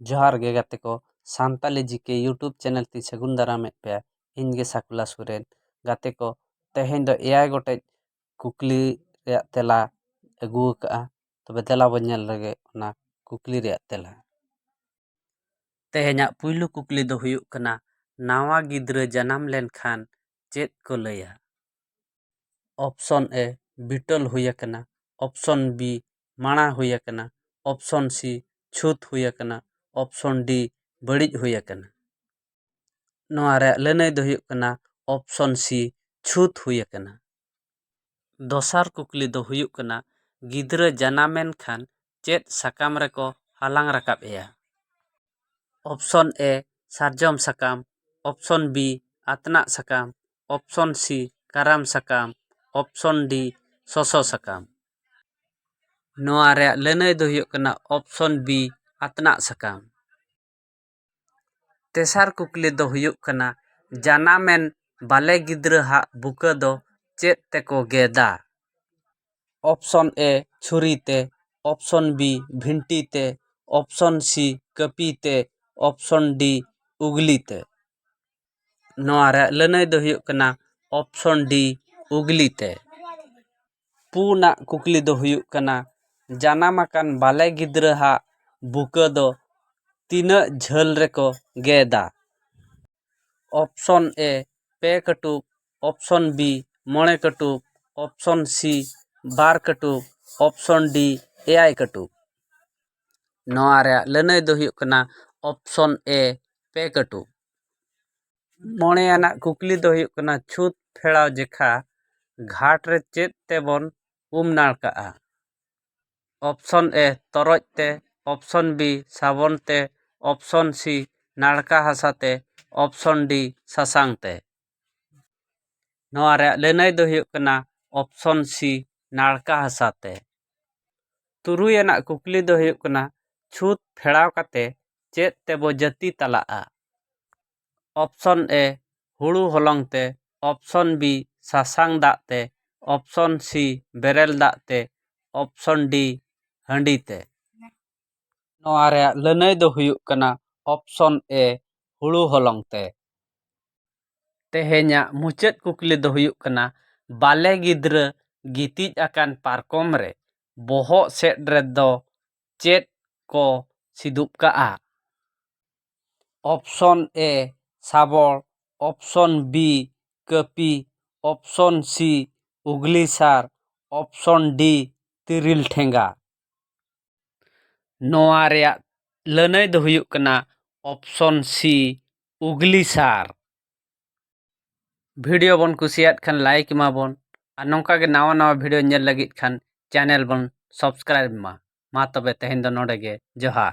ᱡᱚᱦᱟᱨ ᱜᱮ ᱜᱟᱛᱮ ᱠᱚ Santali G K YouTube channel ᱛᱮᱧ ᱥᱟᱹᱜᱩᱱ ᱫᱟᱨᱟᱢᱮᱫ ᱯᱮᱭᱟ ᱤᱧ ᱜᱮ ᱥᱟᱠᱩᱞᱟ ᱥᱚᱨᱮᱱ ᱜᱟᱛᱮ ᱠᱚ ᱛᱮᱦᱮᱧ ᱫᱚ ᱮᱭᱟᱭ ᱜᱚᱴᱮᱡ ᱠᱩᱠᱞᱤ ᱨᱮᱭᱟᱜ ᱛᱮᱞᱟ ᱟᱹᱜᱩ ᱟᱠᱟᱫᱼᱟ ᱛᱚᱵᱮ ᱫᱮᱞᱟ ᱵᱚᱱ ᱧᱮᱞ ᱞᱮᱜᱮ ᱚᱱᱟ ᱠᱩᱠᱞᱤ ᱨᱮᱭᱟᱜ ᱛᱮᱞᱟ ᱛᱮᱦᱮᱧᱟᱜ ᱯᱩᱭᱞᱩ ᱠᱩᱠᱞᱤ ᱫᱚ ᱦᱩᱭᱩᱜ ᱠᱟᱱᱟ ᱱᱟᱣᱟ ᱜᱤᱫᱽᱨᱟᱹ ᱡᱟᱱᱟᱢ ᱞᱮᱱᱠᱷᱟᱱ ᱪᱮᱫ ᱠᱚ ᱞᱟᱹᱭᱟ ᱚᱯᱥᱚᱱ ᱮ ᱵᱤᱴᱚᱞ ᱦᱩᱭ ᱟᱠᱟᱱᱟ ᱚᱯᱥᱚᱱ ᱵᱤ ᱢᱟᱬᱟ ᱦᱩᱭ ᱟᱠᱟᱱᱟ ᱚᱯᱷᱥᱚᱱ ᱥᱤ ᱪᱷᱩᱛ ᱦᱩᱭ ᱟᱠᱟᱱᱟ ᱚᱯᱷᱥᱚᱱ ᱰᱤ ᱵᱟᱹᱲᱤᱡ ᱦᱩᱭ ᱟᱠᱟᱱᱟ ᱱᱚᱣᱟ ᱨᱮᱭᱟᱜ ᱞᱟᱹᱱᱟᱹᱭ ᱫᱚ ᱦᱩᱭᱩᱜ ᱠᱟᱱᱟ ᱚᱯᱷᱥᱚᱱ ᱥᱤ ᱪᱷᱩᱛ ᱦᱩᱭ ᱟᱠᱟᱱᱟ ᱫᱚᱥᱟᱨ ᱠᱩᱠᱞᱤ ᱫᱚ ᱦᱩᱭᱩᱜ ᱠᱟᱱᱟ ᱜᱤᱫᱽᱨᱟᱹ ᱡᱟᱱᱟᱢᱮᱱ ᱠᱷᱟᱱ ᱪᱮᱫ ᱥᱟᱠᱟᱢ ᱨᱮᱠᱚ ᱦᱟᱞᱟᱝ ᱨᱟᱠᱟᱵ ᱮᱭᱟ ᱚᱯᱷᱥᱚᱱ ᱮ ᱥᱟᱨᱡᱚᱢ ᱥᱟᱠᱟᱢ ᱚᱯᱷᱥᱚᱱ ᱵᱤ ᱟᱛᱱᱟᱜ ᱥᱟᱠᱟᱢ ᱚᱯᱷᱥᱚᱱ ᱥᱤ ᱠᱟᱨᱟᱢ ᱥᱟᱠᱟᱢ ᱚᱯᱷᱥᱚᱱ ᱰᱤ ᱥᱚᱥᱚ ᱥᱟᱠᱟᱢ ᱱᱚᱣᱟ ᱨᱮᱭᱟᱜ ᱞᱟᱹᱱᱟᱹᱭ ᱫᱚ ᱦᱩᱭᱩᱜ ᱠᱟᱱᱟ ᱚᱯᱥᱚᱱ ᱵᱤ ᱟᱛᱱᱟᱜ ᱥᱟᱠᱟᱢ ᱛᱮᱥᱟᱨ ᱠᱩᱠᱞᱤ ᱫᱚ ᱦᱩᱭᱩᱜ ᱠᱟᱱᱟ ᱡᱟᱱᱟᱢᱮᱱ ᱵᱟᱞᱮ ᱜᱤᱫᱽᱨᱟᱹ ᱦᱟᱜ ᱵᱩᱠᱟᱹ ᱫᱚ ᱪᱮᱫ ᱛᱮᱠᱚ ᱜᱮᱫᱟ ᱚᱯᱥᱚᱱ ᱮ ᱪᱷᱩᱨᱤ ᱛᱮ ᱚᱯᱥᱚᱱ ᱵᱤ ᱵᱷᱤᱱᱴᱤ ᱛᱮ ᱚᱯᱥᱚᱱ ᱥᱤ ᱠᱟᱹᱯᱤ ᱛᱮ ᱚᱯᱥᱚᱱ ᱰᱤ ᱩᱜᱽᱞᱤ ᱛᱮ ᱱᱚᱣᱟ ᱨᱮᱭᱟᱜ ᱞᱟᱹᱱᱟᱹᱭ ᱫᱚ ᱦᱩᱭᱩᱜ ᱠᱟᱱᱟ ᱚᱯᱷᱥᱚᱱ ᱰᱤ ᱩᱜᱽᱞᱤ ᱛᱮ ᱯᱩᱱᱟᱜ ᱠᱩᱠᱞᱤ ᱫᱚ ᱦᱩᱭᱩᱜ ᱠᱟᱱᱟ ᱡᱟᱱᱟᱢ ᱟᱠᱟᱱ ᱵᱟᱞᱮ ᱜᱤᱫᱽᱨᱟᱹ ᱦᱟᱜ ᱵᱩᱠᱟᱹ ᱫᱚ ᱛᱤᱱᱟᱹᱜ ᱡᱷᱟᱹᱞ ᱨᱮᱠᱚ ᱜᱮᱫᱟ ᱚᱯᱷᱥᱚᱱ ᱮ ᱯᱮ ᱠᱟᱹᱴᱩᱵ ᱚᱯᱷᱥᱚᱱ ᱵᱤ ᱢᱚᱬᱮ ᱠᱟᱹᱴᱩᱵ ᱚᱯᱷᱥᱚᱱ ᱥᱤ ᱵᱟᱨ ᱠᱟᱹᱴᱩᱵ ᱚᱯᱷᱥᱚᱱ ᱰᱤ ᱮᱭᱟᱭ ᱠᱟᱹᱴᱩᱵ ᱱᱚᱣᱟ ᱨᱮᱭᱟᱜ ᱞᱟᱹᱱᱟᱹᱭ ᱫᱚ ᱦᱩᱭᱩᱜ ᱠᱟᱱᱟ ᱚᱯᱷᱥᱚᱱ ᱮ ᱯᱮ ᱠᱟᱹᱴᱩᱵ ᱢᱚᱬᱮ ᱟᱱᱟᱜ ᱠᱩᱠᱞᱤ ᱫᱚ ᱦᱩᱭᱩᱜ ᱠᱟᱱᱟ ᱪᱷᱩᱛ ᱯᱷᱮᱲᱟᱣ ᱡᱚᱠᱷᱟ ᱜᱷᱟᱴ ᱨᱮ ᱪᱮᱫ ᱛᱮᱵᱚᱱ ᱩᱢ ᱱᱟᱲᱠᱟᱜᱼᱟ ᱚᱯᱷᱥᱚᱱ ᱮ ᱛᱚᱨᱚᱡ ᱛᱮ ᱚᱯᱷᱥᱚᱱ ᱵᱤ ᱥᱟᱵᱚᱱ ᱛᱮ ᱚᱯᱷᱥᱚᱱ ᱥᱤ ᱱᱟᱲᱠᱟ ᱦᱟᱥᱟ ᱛᱮ ᱚᱯᱷᱥᱚᱱ ᱰᱤ ᱥᱟᱥᱟᱝ ᱛᱮ ᱱᱚᱣᱟ ᱨᱮᱭᱟᱜ ᱞᱟᱹᱱᱟᱹᱭ ᱫᱚ ᱦᱩᱭᱩᱜ ᱠᱟᱱᱟ ᱚᱯᱥᱚᱱ ᱥᱤ ᱱᱟᱲᱠᱟ ᱦᱟᱥᱟ ᱛᱮ ᱛᱩᱨᱩᱭ ᱟᱱᱟᱜ ᱠᱩᱠᱞᱤ ᱫᱚ ᱦᱩᱭᱩᱜ ᱠᱟᱱᱟ ᱪᱷᱩᱸᱛ ᱯᱷᱮᱲᱟᱣ ᱠᱟᱛᱮ ᱪᱮᱫ ᱛᱮᱵᱚ ᱡᱟᱹᱛᱤ ᱛᱟᱞᱟᱜᱼᱟ ᱚᱯᱥᱚᱱ ᱮᱹ ᱦᱩᱲᱩ ᱦᱚᱞᱚᱝ ᱛᱮ ᱚᱯᱥᱚᱱ ᱵᱤ ᱥᱟᱥᱟᱝ ᱫᱟᱜ ᱛᱮ ᱚᱯᱥᱚᱱ ᱥᱤ ᱵᱮᱨᱮᱞ ᱫᱟᱜ ᱛᱮ ᱚᱯᱥᱚᱱ ᱰᱤ ᱦᱟᱺᱰᱤ ᱛᱮ ᱱᱚᱣᱟ ᱨᱮᱭᱟᱜ ᱞᱟᱹᱱᱟᱹᱭ ᱫᱚ ᱦᱩᱭᱩᱜ ᱠᱟᱱᱟ ᱚᱯᱥᱚᱱ ᱮ ᱦᱩᱲᱩ ᱦᱚᱞᱚᱝ ᱛᱮ ᱛᱮᱦᱮᱧᱟᱜ ᱢᱩᱪᱟᱹᱫ ᱠᱩᱠᱞᱤ ᱫᱚ ᱦᱩᱭᱩᱜ ᱠᱟᱱᱟ ᱵᱟᱞᱮ ᱜᱤᱫᱽᱨᱟᱹ ᱜᱤᱛᱤᱡ ᱟᱠᱟᱱ ᱯᱟᱨᱠᱚᱢ ᱨᱮ ᱵᱚᱦᱚᱜ ᱥᱮᱫ ᱨᱮᱫᱚ ᱪᱮᱫ ᱠᱚ ᱥᱤᱫᱩᱯ ᱠᱟᱜᱼᱟ ᱚᱯᱥᱚᱱ ᱮ ᱥᱟᱵᱚᱲ ᱚᱯᱥᱚᱱ ᱵᱤ ᱠᱟᱹᱯᱤ ᱚᱯᱥᱚᱱ ᱥᱤ ᱩᱜᱽᱞᱤ ᱥᱟᱨ ᱚᱯᱥᱚᱱ ᱰᱤ ᱛᱤᱨᱤᱞ ᱴᱷᱮᱸᱜᱟ ᱱᱚᱣᱟ ᱨᱮᱭᱟᱜ ᱞᱟᱹᱱᱟᱹᱭ ᱫᱚ ᱦᱩᱭᱩᱜ ᱠᱟᱱᱟ ᱚᱯᱷᱥᱚᱱ ᱥᱤ ᱩᱜᱽᱞᱤ ᱥᱟᱨ ᱵᱷᱤᱰᱤᱭᱳ ᱵᱚᱱ ᱠᱩᱥᱤᱭᱟᱜ ᱠᱷᱟᱱ ᱞᱟᱭᱤᱠ ᱮᱢᱟ ᱵᱚᱱ ᱟᱨ ᱱᱚᱝᱠᱟ ᱜᱮ ᱱᱟᱣᱟ ᱱᱟᱣᱟ ᱵᱷᱤᱰᱤᱭᱳ ᱧᱮᱞ ᱞᱟᱹᱜᱤᱫ ᱠᱷᱟᱱ ᱪᱮᱱᱮᱞ ᱵᱚᱱ ᱥᱟᱵᱥᱠᱨᱟᱭᱤᱵᱽ ᱢᱟ ᱢᱟ ᱛᱚᱵᱮ ᱛᱮᱦᱮᱧ ᱫᱚ ᱱᱚᱰᱮ ᱜᱮ ᱡᱚᱦᱟᱨ